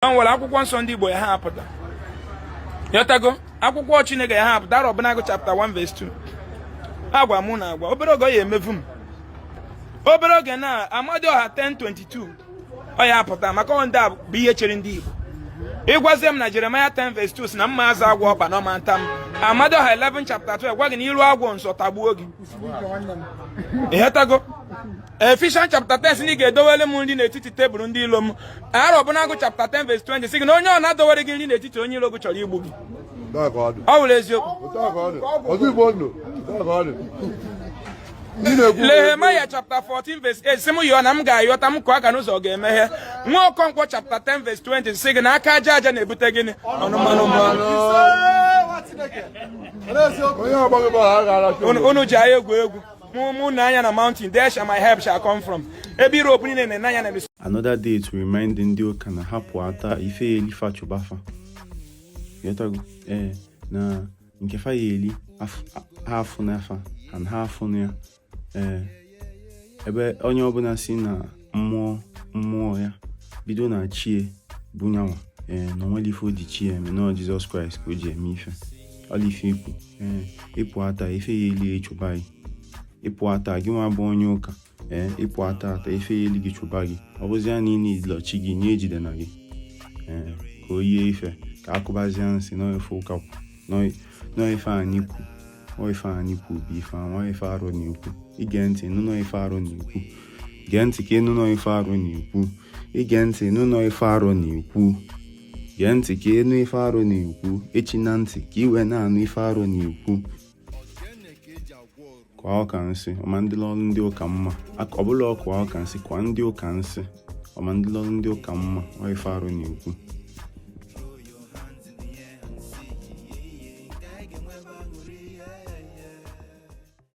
o nwere akwụkwọ nsọ ndị Igbo ya ha apụta ịghọtago akwụkwọ Chineke ya ha apụta Arọbụnagụ chapta 1 vs 2 agwa mụ na agwa obere oge ọ ya emevu m obere oge na Amadioha 10:22 ọ ya apụta maka ọ ndị a bụ ihe chere ndị Igbo ị gwazie m na Jeremaya 10 vs 2 si na mma azọ agwọ ọkpa na ọ ma nta m Amadioha 11 chapta 12 gwa gị na i ru agwọ nso ọ tagbuo gị ịghọtago Efishọn chapta 10 si na ị ga-edowere m nri n'etiti tebụl ndị ilo m Arọbụnagụ chapta 10 vs 20 si gị na onye ọ na-adowere gị nri n'etiti onye ilo gị chọrọ igbu gị ọ wụrụ eziokwu Nehemaya chapta 14 vs 8 si m yọọ na m ga-ayọta m kụọ aka n'ụzọ ọ ga-emeghe nwa Okonkwọ chapta 10 vs 20 si gị na aka aja aja na-ebute gịnị ọnụ mmanụ mmanụ unu ji anyị egwu egwu Mụ na anya na mountain, there shall my help shall come from. Ebe Europe niile na anya na ebe. Another day to remind ndị ụka na ha pụata ife ya eli fa chụba fa. Ịghọtago, ee, eh, na nke fa ya eli ha afụ n'afa and ha afụ na ya. Ee, eh, ebe onye ọbụla si na mmụọ mmụọ ya bido na chi e bụ ya nwa ee na o nwere ife o ji chi ya eme na jizọs kraịst ka o ji eme ife ọla ife ikwu ee ị pụata ife ya eli achụba gị ị pụata gị nwa bụ onye ụka ee ị pụata ife ya eli gị chụba gị ọ bụzi ya na ị na-ejilachi gị nye ejide na gị ee ka o yie ife ka a kụbazie nsị n'ife ụka kwu n'ife anyị kwu ife anyị kwu bụ ife a nwa ife Arọ na-ekwu i gee ntị nụnọ ife Arọ na-ekwu gee ntị ka ị nụnọ ife Arọ na-ekwu i gee ntị nụnọ ife Arọ na-ekwu gee ntị ka ị nụ ife Arọ na-ekwu echina ntị ka i wee na-anụ ife Arọ na-ekwu kụa ụka nsị ọ ma ndịlọrụ ndị ụka mma ọ bụla ọ kụa ụka nsị kụa ndị ụka nsị ọ ma ndịlọrụ ndị ụka mma ọ ife Arọ na-ekwu